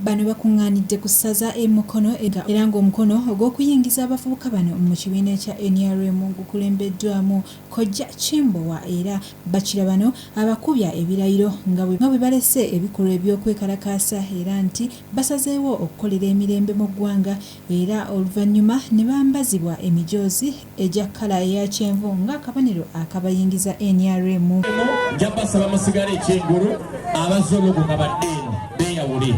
Bano bakungaanidde ku ssaza e Mukono era ng'omukono ogw'okuyingiza abavubuka bano mu kibiina ekya nrm gukulembeddwamu Kojja Kimbowa era bakira bano abakubya ebirayiro nga bwe balese ebikolwa eby'okwekalakaasa era nti basazeewo okukolera emirembe mu ggwanga era oluvannyuma ne bambazibwa emijoozi egya kkala eya kyenvu ng'akabonero akabayingiza nrm. Eno nja basaba musigale eky'engulu abazze olukunga badde eno beeyawule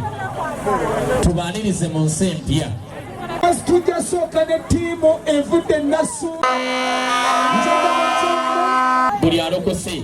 tubaanirize mu nsi empya. As tujja sooka ne ttiimu evudde Nassuna. Buli alokose.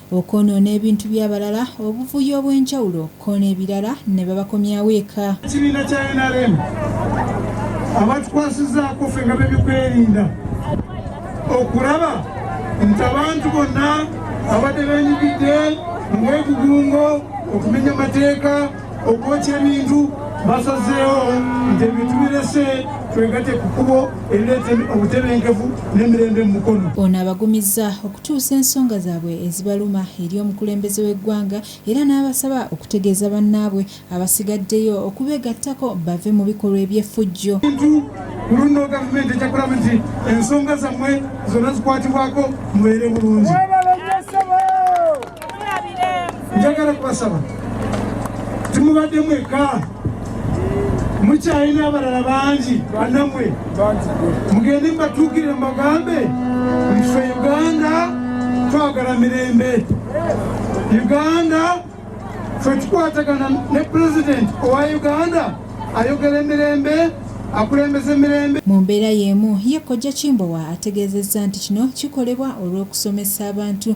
okwonoona ebintu by'abalala, obuvuyo obw'enjawulo kko n'ebirara ne babakomyawo eka. Ekibiina kya nrm abatukwasizaako ffe nga b'ebyokwerinda okulaba nti abantu bonna abadde benyigidde mu bwegugungo, okumenya amateeka, okwokya ebintu basazeewo nti ebintu birese twegate ku kkubo erireeta obutebenkevu n'emirembe mu Mukono. Ono abagumizza okutuusa ensonga zaabwe ezibaluma eri omukulembeze w'eggwanga era n'abasaba okutegeeza bannaabwe abasigaddeyo okubeegattako bave mu bikolwa eby'effujjo. Ku luno gavumenti ejja kulaba nti ensonga zammwe zonna zikwatibwako mubeere bulungi. njagala kubasaba timubadde mweka mukyalina abalala bangi banamwe mugende mubatuukire mubagambe nfe uganda twagala mirembe uganda fe tukwatagana ne pulezidenti owa uganda ayogera emirembe mu mbeera y'emu ye kojja kimbowa ategeezezza nti kino kikolebwa olw'okusomesa abantu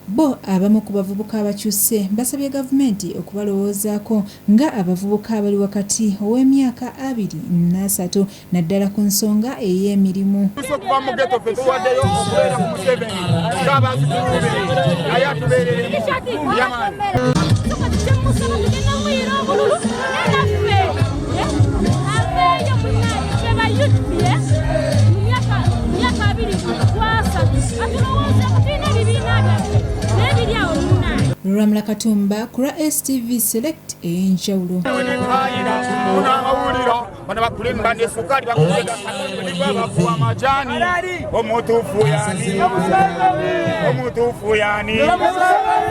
Bbo abamu ku bavubuka abakyusse basabye gavumenti okubalowoozaako nga abavubuka abali wakati ow'emyaka abiri n'asatu naddala ku nsonga ey'emirimu. Ffe okuva mu Ghetto ffe tuwaddeyo okubeera ku Museveni nga abazzukulu be naye atubeereremu Yaman. luramula katumba ku lwa stv select ey'enjawulo bano bakulemba nesukaali bakulebabakuwa amajani omutuufu yani omutuufu yani